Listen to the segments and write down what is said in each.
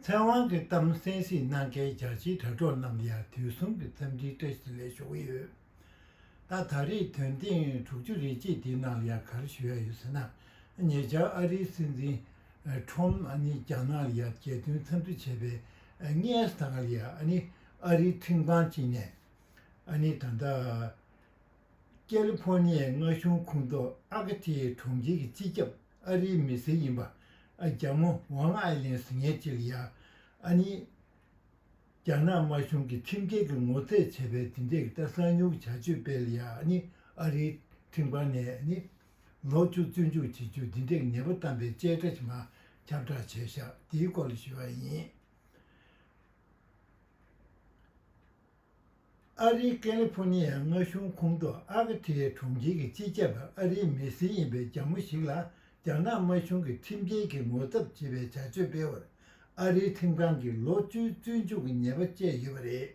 ཚེ་དབང་གི་གཏམ་གསན་གཟིགས་གནང་མཁན་རྒྱ་ཆེའི་དྲ་གྲོགས་རྣམས་ལ་དུས་གསུམ་གྱི་འཚམས་འདྲིའི་བཀྲ་ཤིས་ལན་ཞུ་གི་ཡོད། ད་ད་རེས་དོན་ཐེངས་དྲུག་ཅུ་རེ་གཅིག་དེའི་ནང་ལ་གར་ཞུ་ཡ་ཡོད་ཟེར་ན་ཉེ་ཆར་ཨ་རིའི་སྲིད་འཛིན། Trump། ནས་རྒྱ་ནག་ལ་རྒྱལ་སྟོན་འཚམས་འདྲི་བྱས་པའི་སྔས་དང་ལ་ཨ་རིའི་ཁྲིམས་ཁང་གཅིག་ནས་ད་ལྟ་ཀེ་ལི་ཕོར་ཉིའི་མངའ་གཞུང་ཁོངས་གཏོགས་ཨ་ཀ་ཐེའི་གྲོང་ཁྱེར་གྱི་སྤྱི་ཁྱབ་ཨ་རིའི་མི་སེར་ཡིན་པ། ཨ་རྒྱ་མོ་ཝང་ཨའེ་ལེན་སི་ངས་ཅེག་ཡ། ཨ་ནི། རྒྱ་ནག་དམར་གཞུང་གིས་ཁྲིམས་འགལ་གྱི་ངོ་ཚས་བྱས་པའི་དེ་འདྲའི་ཀི་ཏཱ་གསང་ཉུལ་གྱི་བྱ་སྤྱོད་སྤེལ་ཡ་ནི་ཨ་རིའི་ཁྲིམས་ཁང་ནས་ནི། ལོག་སྤྱོད་བཙོན་འཇུག་བྱེད་རྒྱུ་འདི་འདྲའི་ངན་པ་གཏམ་པའི་དཔྱད་ཁྲ་ཞིག་མ་ཁྱབ་བསྒྲགས་བྱས་བཞག་དེའི་སྐོར་ལ་ཞུ་བ་ཡིན། ཨ་རིའི་ཀེ་ལི་ཕོ་ནི་ཡའི་མངའ་གཞུང་ཁོངས་གཏོགས་ཨ་ཀ་ཐི་ཡའི་གྲོང་ཁྱེར་གྱི་སྤྱི་ཁྱབ་པ་ཨ་རིའི་མི་སེར་ཡིན་པའི་རྒྱ་མོ་ཞིག་ལ་རྒྱ་ནག་དམར་གཞུང་གིས་ཁྲིམས་འགལ་གྱི་ངོ་ཚབ་བྱེད་པའི་བྱ་སྤྱོད་སྤེལ་བར་ཨ་རིའི་ཁྲིམས་ཁང་གིས་ལོ་བཅུའི་བཙོན་འཇུག་གི་ཉེས་པ་བཅད་ཡོད་པ་རེད།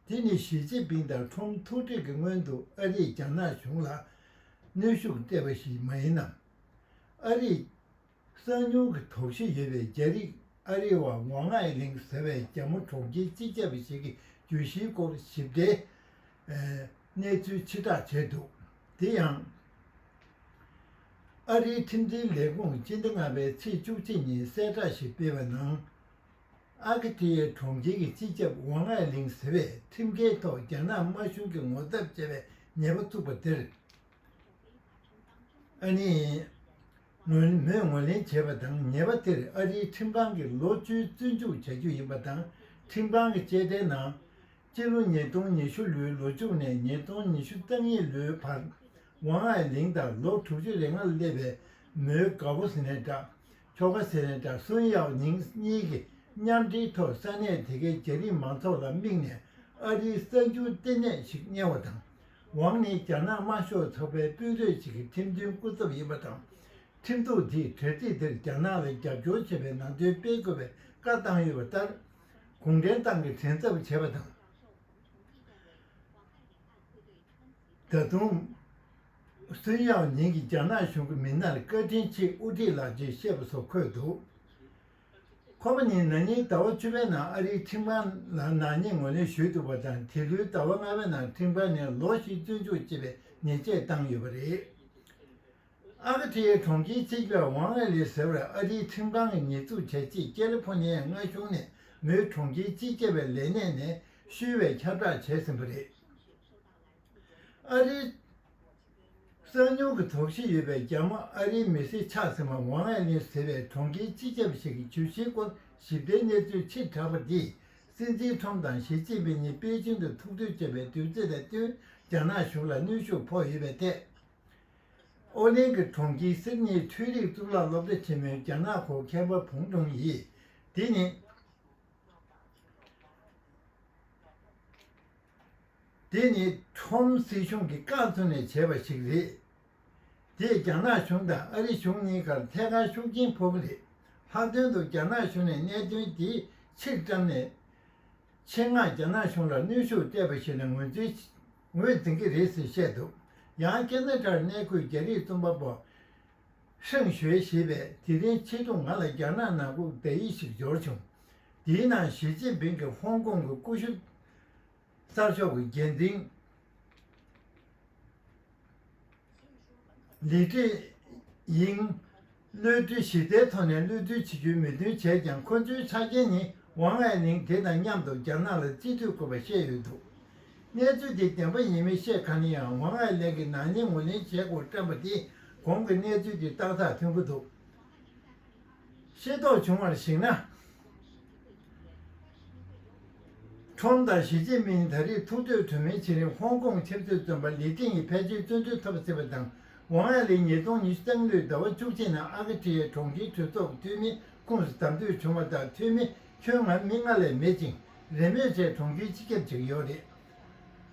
དེ་ནི་ཞི་ཅིན་ཕིང་དང་ཁྲོམ་ཐུག་འཕྲད་ཀྱི་སྔོན་དུ་ཨ་རིས་རྒྱ་ནག་གཞུང་ལ་གནོན་ཤུགས་སྤྲད་པ་ཞིག་མ་ཡིན་ནམ། ཨ་རིས་གསང་ཉུལ་གྱི་དོགས་གཞི་ཡོད་པའི་རྒྱ་རིགས་ཨ་རི་བ་ངོ་ལྔ་ཨེ་ལིང་ཟེར་བའི་རྒྱ་མོ་གྲོགས་ཁྱི་གཅིག་བཅས་པ་ཞིག་གི་བརྗོད་གཞིའི་སྐོར་ཞིབ་ཏེ། གནས་ཚུལ་ཕྱིར་བསྒྲགས་བྱས་འདུག་དེ་ཡང། ཨ་རིའི་ཁྲིམས་འཛིན་ལས་ཁུངས་སྤྱི་ཟླ་ལྔ་པའི་ཚེས་བཅུ་གཅིག་ཉིན་གསལ་བསྒྲགས་ཤིག་སྤེལ་བའི་ནང། ཨ་ཁི་ཐི་ཡའི་གྲོང་ཁྱེར་གྱི་སྤྱི་ཁྱབ་ཝང་ཨའེ་ལིང་ཟེར་བས་ཁྲིམས་འགལ་ཐོག་རྒྱ་ནག་དམར་གཞུང་གིས་ངོ་ཚབ་བྱས་པའི་ཉེས་པ་བཙུགས་པ་དེར། ཨ་ནི། ངོས་མོས་ངོས་ལེན་བྱས་པ་དང་ཉེས་པ་དེར་ཨ་རིའི་ཁྲིམས་ཁང་གིས་ལོ་བཅུའི་བཙོན་འཇུག་བྱ་རྒྱུ་ཡིན་པ་དང་ཁྲིམས་ཁང་གི་དཔྱད་གདན་ནང། སྤྱི་ལོ་ཉིས་སྟོང་ཉི་ཤུ་ལོའི་ལོ་མཇུག་ནས་ཉིས་སྟོང་ཉི་ཤུ་རྩ་གཉིས་ལོའི་བར་ཝང་ཨའེ་ལིང་དང་ལོ་དྲུག་ཅུ་རེ་ལྔར་སླེབས་པའི་མོའུ་དགའ་བོ་སི་ནན་ཀྲ། ཁྱོ་ག་སི་ནན་ཀྲ་སུན་ཡའོ་ཉིང་གཉིས་ཀྱིས་མཉམ་འབྲེལ་ཐོག་ས་གནས་དེ་གའི་རྒྱ་རིགས་མང་ཚོགས་ལ་དམིགས་ནས་ཨ་རིའི་གསར་འགྱུར་ལྟེ་གནས་ཤིག་གཉེར་བ་དང། ཝང་ནི་རྒྱ་ནག་དམར་ཤོག་ཚོགས་པའི་དཔོན་རིགས་ཤིག་གི་ཁྲིམས་མཐུན་སྐུ་ཚབ་ཡིན་པ་དང། ཁྲིམས་གཏུག་དེས་གྲལ་རིགས་དེར་རྒྱ་ནག་ལ་རྒྱབ་སྐྱོར་བྱེད་པའི་ནང་དོན་སྤེལ་དགོས་པའི་བཀའ་བཏང་ཡོད་པ་ལྟར། གུང་ཁྲན་ཏང་གི་དྲན་ཚབ་བྱས་པ་དང། ད་དུང། སུན་ཡའོ་ཉིང་གིས་རྒྱ་ནག་གཞུང་གི་མི་སྣར་བཀའ་དྲིན་ཆེ་དབུ་ཁྲིད་ལགས་ཀྱིས་བཤད་པ་སོགས་འཁོད་འདུག། ཁོ་པ་ནི་ན་ནིང་ཟླ་བ་བཅུ་པའི་ནང་ཨ་རིའི་ཁྲིམས་ཁང་ལ་ནག་ཉེས་ངོས་ལེན་ཞུས་འདུག་པ་དང་དེ་ལོའི་ཟླ་བ་ལྔ་བའི་ནང་ཁྲིམས་ཁང་ནས་ལོ་བཞི་བཙོན་འཇུག་ཅེས་པའི་ཉེས་ཆད་བཏང་ཡོད་པ་རེད། ཨ་ཁ་ཐེའི་གྲོང་ཁྱེར་སྤྱི་བདག་ཝང་ཨེ་ལེ་ཟེར་བས་ཨ་རིའི་ཁྲིམས་ཁང་གི་ཉེས་འཛུགས་བྱས་རྗེས་ཀེ་ལི་ཕོ་ནི་ཡའི་མངའ་གཞུང་ནས་མོའི་གྲོང་ཁྱེར་སྤྱི་བསྐྱེད་པའི་ལས་གནས་ནས་ཤུལ་བའི་ཁྱབ་བསྒྲགས་བྱས་ཟིན་པ་རེད། ཨ་རིའི། གསང་ཉུལ་གྱི་དོགས་གཞི་ཡོད་པའི་རྒྱ་དམར་ཨ་རིའི་མི་སེར་ཆགས་ཟིན་པ་ཝང་ཨའེ་ལིན་ཟེར་བའི་གྲོང་ཁྱེར་སྤྱི་ཁྱབ་ཞིག་གི་བྱུས་གཞིའི་སྐོར་ཞིབ་ཕྲའི་གནས་ཚུལ་ཕྱིར་བསྒྲགས་པ་འདིས་སྲིད་འཛིན་ཁྲོམ་དང་ཞི་ཅིན་ཕིན་གཉིས་པེ་ཅིང་དུ་ཐུག་འཕྲད་བྱས་པའི་དུས་ཚོད་ལས་བསྟུན་རྒྱ་ནག་གཞུང་ལ་གནོན་ཤུགས་ཕོག་ཡོད་པའི་ཐད། ཨོ་ལིན་གྱི་གྲོང་ཁྱེར་སིད་ནིའི་འཕྲུལ་རིག་གཙུག་ལག་སློབ་གྲྭ་ཆེན་མོའི་རྒྱ་ནག་གོ་མཁས་པ་བུང་ཀྲུང་ཡིས་དེ་ནི། དེ་ནི་ཁྲོམ་སྲིད་གཞུང་གིས་བཀག་བསྡོམས་ནས་བྱས་པ་ཞིག་རེད། དེས་རྒྱ་ནག་གཞུང་དང་ཨ་རི་གཞུང་གཉིས་ཀར་ཐད་ཀར་ཤུགས་རྐྱེན་ཕོག་གི་རེད། ལྷག་དོན་དུ་རྒྱ་ནག་གཞུང་ནས་གནད་དོན་དེ་ཕྱིར་བཀྲམ་ནས། ཆེད་མངགས་རྒྱ་ནག་གཞུང་ལ་གནོན་ཤུགས་སྤྲད་པ་ཞིག་ལ་ངོས་འཛིན་ངོས་འཛིན་གྱི་རེད་ཟེར་བཤད་འདུག་ཡང་ཀན་ན་ཀྲར་གནས་འཁོད་རྒྱ་རིགས་རྩོམ་པ་པོ་ཧྲེང་ཞོའེ་ཞེས་པས་དེ་རིང་ཕྱི་དྲོ་ང་ལ་རྒྱ་ནག་ནང་ཁུག་བརྡ་ཡིག་ཞིག་འབྱོར་བྱུང། དེའི་ནང་ཞི་ཅིན་ཕིང་གིས་ཧོང་ཀོང་གི་ཀུ་ཤུ་གསར་ཤོག་གི་འགན་འཛིན། ལི་ཀྲི་ཡིང། གློད་གྲོལ་གཞི་རྩའི་ཐོག་ནས་གློད་གྲོལ་བྱེད་རྒྱུའི་མོས་མཐུན་བྱས་ཀྱང་ཁོ་ཚོའི་ཆ་རྐྱེན་ནི་ཝང་ཨའེ་ལིང་དེ་དང་མཉམ་དུ་རྒྱ་ནག་ལ་རྩིས་སྤྲོད་དགོས་པ་བཤད་ཡོད་འདུག་གནས་ཚུལ་དེ་བདེན་པ་ཡིན་མིན་ཤེས་ག་ནས་ཡང་ཝང་ཨའེ་ལེང་གིས་ནག་ཉེས་ངོས་ལེན་བྱེད་དགོས་བཀྲམས་པ་དེ་གོང་གི་གནས་ཚུལ་གྱི་རྟགས་མཐའ་མཐུན་པོ་འདུག། ཤེས་རྟོགས་བྱུང་བར་གཞིགས་ན། ཁྲོམ་དང་ཞི་ཅིན་ཕིང་ད་རེས་ཐུག་འཕྲོད་གྲོས་མོལ་བྱེད་རིང་ཧོང་ཀོང་ཆབ་སྲིད་བཙོན་པ་ལི་ཀྲིན་ཡི་ཕལ་ཆེར་བཙོན་འཇུག་ཐོབ་སྲིད་པ་དང་ཝང་ཨན་ལི་ཉིས་སྟོང་ཉི་ཤུ་ཙང་ལོའི་ཟླ་བ་བཅུ་གཅིག་ནང་ཨ་ཁ་ཁྲི་ཡའི་གྲོང་ཁྱེར་གྲོས་ཚོགས་འཐུས་མིའི་ཁུངས་སུ་དམ་འབུལ་བྱུང་བ་དང་འཐུས་མི་ཁྱོན་ང་མི་ལྔ་ལས་མེད་ཅིང་རེས་མོས་བྱས་གྲོང་ཁྱེར་སྤྱི་ཁྱབ་ཅིག་ཡོད་རེད།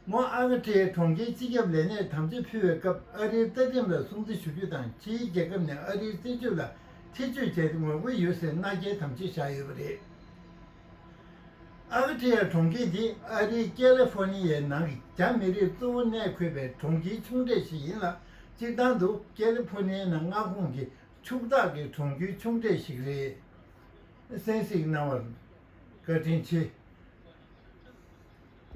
ངོ་ཨ་ཁི་ཁྲེའི་གྲོང་ཁྱེར་སྤྱི་ཁྱབ་ལས་གནས་དམ་བཅའ་ཕུལ་བའི་སྐབས་ཨ་རིའི་རྩ་ཁྲིམས་ལ་སྲུང་བརྩི་ཞུ་རྒྱུ་དང་ཕྱིའི་རྒྱལ་ཁབ་ནས་ཨ་རིའི་སྲིད་ཇུས་ལ་ཐེ་ཇུས་བྱས་ཏེ་ངོ་རྒོལ་ཡོད་ཟེར་མནའ་སྐྱེལ་དམ་བཅའ་བཞག་ཡོད་པ་རེད། ཨ་ཁི་ཁྲེ་ཡ་གྲོང་ཁྱེར་དེ་ཨ་རིའི་ཀེ་ལེ་ཧྥོ་ནི་ཡའི་ནང་གི་རྒྱ་མི་རིགས་གཙོ་བོ་གནས་འཁོད་པའི་གྲོང་ཁྱེར་ཆུང་གྲས་ཤིག་ཡིན་ལ་སྤྱིར་བཏང་དུ་ཀེ་ལེ་ཧྥོ་ནི་ཡའི་ནང་མངའ་ཁོངས་ཀྱི་ཕྱུག་བདག་གི་གྲོང་ཁྱེར་ཆུང་གྲས་ཤིག་རེད། གསན་གཟིགས་གནང་བར་བཀའ་དྲིན་ཆེ།